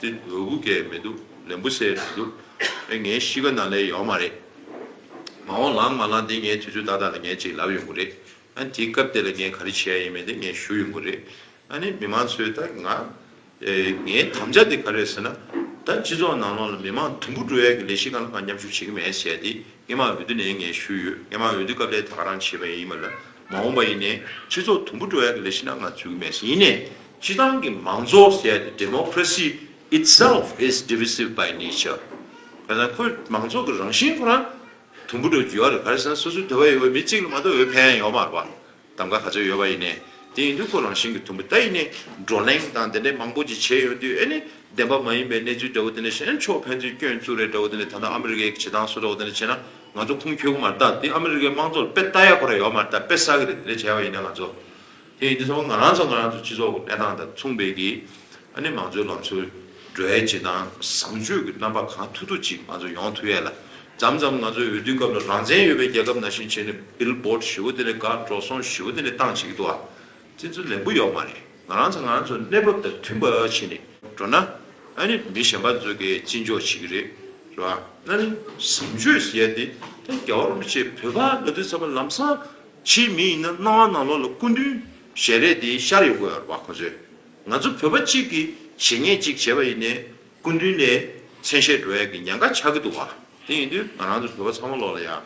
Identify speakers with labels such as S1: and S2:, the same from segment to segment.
S1: དེ་འོས་སྒུག་གས་མི་འདུག་ལན་བུ་སེ་མི་འདུག་དེ་ངའི་གཤིས་ཀ་ནང་ལས་ཡོག་མ་རེད། མ་འོང་ལང་མ་ལང་དེ་ངས་དུས་ཚོད་ཏག་ཏག་ལ་ངས་ཅིག་ལབ་ཡོང་གི་རེད། ཨ་ནི་དེའི་སྐབས་དེ་ལ་ངས་ག་རེ་བྱེད་ཡ་ཡིན་མིན་དེ་ངས་ཞུ་ཡོང་གི་རེད། ཨ་ནི་མི་མང་ཚོས་ད་ང། ངའི་དམ་བཅའ་དེ་ག་རེད་ཟེར་ན། ད་སྤྱི་ཚོགས་ནང་ལོགས་ལ་མི་མང་དུམ་བུ་འགྲོ་ཡ་གི་ལས་གཞི་གང་ལ་གང་མཉམ་ཞུགས་བྱེད་ཀྱི་མེད་ཟེར་ཡ་དེ། སྐད་མང་འོས་བསྡུ་ནས་ངས་ཞུས་ཡོད་སྐད་མང་འོས་བསྡུ་སྐབས་ལས་ད་ག་རང་བྱེད་པ་ཡིན་མ་ལབ་མ་འོངས་པ་ཡིན་ནས་སྤྱི་ཚོགས་དུམ་བུ་འགྲོ་ཡག་གི་ལས་བྱེད་ན་ང་ཚུད་གི་མེད་ཡིན་ནས་སྤྱི་བཏང་གི་མང་གཙོ་ཟེར་ཡ་དེ Democracy itself is divisive by nature ཁ་སང་ཁོས་མང་གཙོ་གི་རང་བཞིན་ཁོ་རང་དུམ་བུ་འགྲོ་རྒྱུ་ཡག་རེད་ག་རེ་ཟེར་ན་སོ་སོའི་དོད་པ་ཡོད་པའི་མི་གཅིག་ལ་མ་གཏོགས་འོས་འཕེན་ཡག་ཡོད་མ་རེད་པ། གདམ་ག་ག་ཚོད་ཡོད་པ་ཡིན་ནས་དེ་ཡིན་དུས་ཁོ་རང་བཞིན་གྱི་དུམ་བུ་ད་ཡིན་ནས་བགྲོ་གླེང་དང་དེ་འདྲས་མང་པོ་ཅིག་བྱས་ཡོང་དུས་ཨེ་ནི་བདེན་པ་མ་ཡིན་པའི་གནས་ཚུལ་འདྲ་བོ་དེ་འདྲས་གཞན་ཕྱོགས་ཕན་ཚུན་སྐྱོན་བཙུགས་རེས་འདྲ་བོ་དེ་འདྲས་ད་ལྟ་ཨ་མི་རི་ཀའི་བྱེད་སྟངས་སུ་འདྲ་བོ་དེ་འདྲས་བྱས་ན་ང་ཚོ་ཁུངས་འཁྱོལ་གི་མ་རེད་ད་དེ་ཨ་མི་རི་ཀའི་དམངས་གཙོ་ལ་དཔེ་ལྟ་ཡག་པོ་རེ་ཡོད་མ་རེད་ད་དཔེ་བསགས་གི་རེད་དེ་འདྲས་བྱས་པ་ཡིན་ན་ང་ཚོ་དེ་ཡིན་དུས་ཚང་མ་ང་རང་ཚོ་ང་རང་ཚོ་སྤྱི་ཚོགས་ཀྱི་གནས་སྟངས་དང་མཚུངས་པའི་གི་ཨ་ནི་མང་གཙོའི་ལམ་སྲོལ་སྒྲོལ་ཡས་བྱེད་སྟངས་བཟང་སྤྱོད་ཀྱི་རྣམ་པ་གང་ཐུག་ཐུག་ཅིག་ང་ཚོ་ཡོང་ཐུབ་ཡས་ལ། འཇམ་འཇམ་ང་ཚོའི་འོས་བསྡུའི་སྐབས་ལ་རང་བཙན་ཡོད་པའི་རྒྱལ་ཁབ་ནང་བཞིན་བྱས་ནས Bill Board བཞི་བོ་དེ་ལས་དགའ་འགྲོ་སོང་བཞི་བོ་དེ་ནས་བཏང་བྱེད་ཀྱི་འདུག་ཨ། བཙན་འཛུལ་ལན་པོ་ཡོག་མ་རེད་ང་རང་ཚ་ང་རང་ཚོ་གནས་བབ་དང་མཐུན་པ་བྱེད་ནས་འགྲོ་ན། ཨ་ནི་མི་གཞན་པ་ཚོས་གས་ཅི་འཇོག་བྱེད་ཀྱི་རེད་རེད་བ། ཨ་ནི་བཟང་སྤྱོད་ཟེར་ཡས་དེ་ད་རྒྱ་བ་རུ་མི་བྱེད་བོད་པ་ལ་དུས་ཚ་བ་ལམ་སང་ཕྱིའི་མི་ཡིན་ན་སྣང་བ་ནང་ལོག་ལ་སྐུ་མདུན་ཞལ་རས་དེ་ཤར་ཡོད་དགོས་ཡོད་རེད་བ་ཁོ་ཚོས། ང་ཚོ་བོད་པ་གཅིག་གིས་བྱས་ཉེས་གཅིག་བྱས་པ་ཡིན་ནས་སྐུ་མདུན་ནས་མཚན་ཤས་འགྲོ་ཡ་གི་ཉན་ཁ་ཆག་གི་འདུག་བ་དེ་ཡིན་དུས་ང་རང་ཚོ་བོད་པ་ཚང་མ་ལོག་ལ་ཡ་ཨ་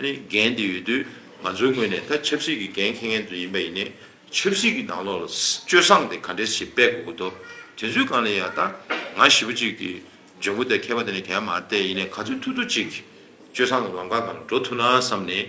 S1: ནི་འགན་དེ་ཡོད་དུས་ང་ཚོའི་ངོས་ནས་ད་ཆབ་སྲིད་ཀྱི་འགན་ཁེ་མཁན་ཚོ་ཡིན་པ་ཡིན་ནས་ཆབ་སྲིད་ཀྱི་ནང་ལོག་ལ་སྤྱོད་བཟང་དེ་ག་འདྲས་ཞིག་སྤེལ་དགོས་གི་འདུག་དེ་ཚོའི་སྒང་ལ་ཡ་ད་ང་ཞི་བ་གཅིག་གིས་ཇོན་གུ་དེ་ཁེ་པ་དེ་ནས་གན་མ་རྟེ་ཡིན་ནས་ག་ཚོད་ཐུ་ཐུ་གཅིག་གིས་སྤྱོད་བཟང་གི་ལམ་ཁ་གང་ལ་འགྲོ་ཐུ་ན་བསམ་ནས།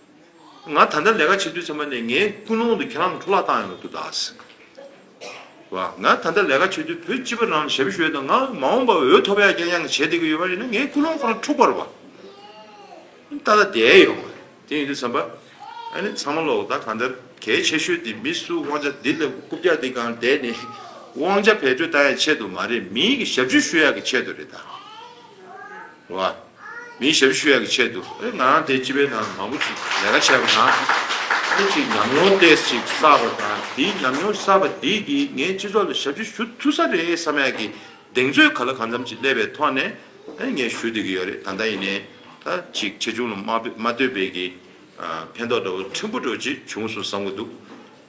S1: ང་ད་ལྟ་ལས་ཀ་བྱེད་དུས་ཚང་མ་ནས་ངའི་ཀུན་སློང་དུ་ཁྱེད་རང་གི་འཕྲོ་བརླག་བཏང་ཡོང་དུ་གདའ། བ། ང་ད་ལྟ་ལས་ཀ་བྱེད་དུས་བོད་སྤྱི་པ་རྣམས་ཞབས་ཞུ་ཡོད་དང་ང་མ་འོངས་པ་འོས་ཐོབ་ཡག་ཀྱང་ཡང་བྱེད་བསྡད་ཀྱི་ཡོད་པ་རེད་ན་ངའི་ཀུན་སློང་ཁོ་རང་འཁྲུག་པར་བ། ད་ལྟ་བསྡད་ཡོང་བ་རེད་དེ་ཡིན་དུས་ཚང་པ། ཨ་ནི་ཚང་མ་ལོག་ད་གང་ལྟར་གལ་ཆེ་ཤོས་དེ་མི་སུ་དབང་ཆ་འདི་ལ་རྐུབ་བཀྱག་འདི་གང་བསྡད་ནས་དབང་ཆ་བེད་སྤྲོད་བཏང་ཡག་ཆེད་དུ་མ་རེད་མིའི་གི་ཞབས་ཞུ་ཞུ་ཡག་གི་ཆེད་དུ་རེད་ད། བ། མིའི་ཞབས་ཞུ་ཡག་གི་ཆེད་དུ་ཨེ་ང་རང་དེ་སྤྱི་པའི་ནང་དུ་མང་པོ་ཞིག་ལས་ཀ་བྱས་པ་དང། ཨེ་ཅིག་ཉམས་མྱོང་ཏེས་ཅིག་བསགས་པ་དང་དེའི་ཉམས་མྱོང་བསགས་པ་དེས་ཀྱིས་ངས་སྤྱི་ཚོགས་ལ་ཞབས་ཞུ་ཞུ་ཐུབ་ས་རེད་བསམ་ཡག་གི་གདེང་ཚོད་ག་ལ་གང་འཚམ་ཅིག་སླེབས་པའི་ཐོག་ནས་ཨེ་ངས་ཞུ་འདོད་ཀྱི་ཡོད་རེད་ད་ལྟ་ཡིན་ནའི་ད་ཅིག་ཆེ་ཆུང་ལ་མ་ལྟོས་པའི་གི་ཕན་ཐོགས་འདྲ་བོ་ཕྲན་བུ་འགྲོ་ཅིག་བྱུང་སོང་བསམ་གྱི་འདུག་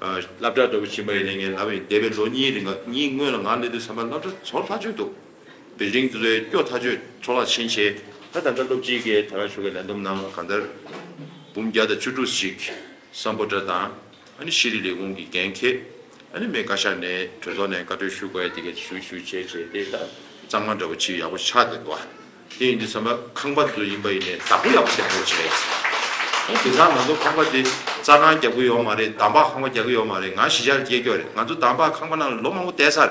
S1: བསླབ་གྲྭ་འདྲ་བོ་ཕྱིན་པ་ཡིན་ནའི་ངས་ལབ་ཡིན་འདས་པའི་ལོ་གཉིས་རིང་གཉིས་སྔོན་ལ་ང་སླེབས་དུས་བསམ་པ་བསླབ་གྲྭ་ཚོར་ལྷག་བྱོས་འདུག། བེ་ལྡིང་འདི་ལོའི་སྐྱོ་ཐག་གཅོད་འཕྲོ་རླག་ཆེན་ཆེ། ད་ད་ལྟ་སློབ་སྤྱིའི་སྐད་དར་ཤོ་གི་ལན་འདོམས་ནང་གང་ལྟར། འབུམ་བརྒྱ་དང་བཅུ་དྲུག་ཅིག་སམ་པོ་ཏྲ་དང་ཨ་ནི་ཤེས་རིག་ལས་ཁུངས་ཀྱི་འགན་འཁེ་ཨ་ནི་མེ་བཀའ་ཤག་ནས་གྲོས་ཚོགས་ནས་བཀའ་འཁྲོལ་ཞུ་དགོས་དེ་གས་ཞུ་ཞུ་བྱས་བྱས་དེ་ད་གཙང་མ་འདྲ་བོ་ཆིག་ཡག་པོ་ཆགས་དེ་འདུག་དེ་ཡིན་དུས་ས་མ་ཁང་པ་འདི་ཡིན་པ་ཡིན་ནས་བདག་པོ་ཡག་པོ་བྱས་འདུག་བྱས། ཨ་དེ་ཚང་ང་ཚོ་ཁང་པ་འདི་རྩ་ཁང་རྒྱག་གི་ཡོག་མ་རེད་དམ་པ་ཁང་པ་རྒྱག་གི་ཡོག་མ་རེད་ང་གཞི་ཆགས་རྒྱས་སྐྱོ་རེད་ང་ཚོ་དམ་པ་ཁང་པ་ནང་ལོ་མང་པོ་བསྡད་ཚར།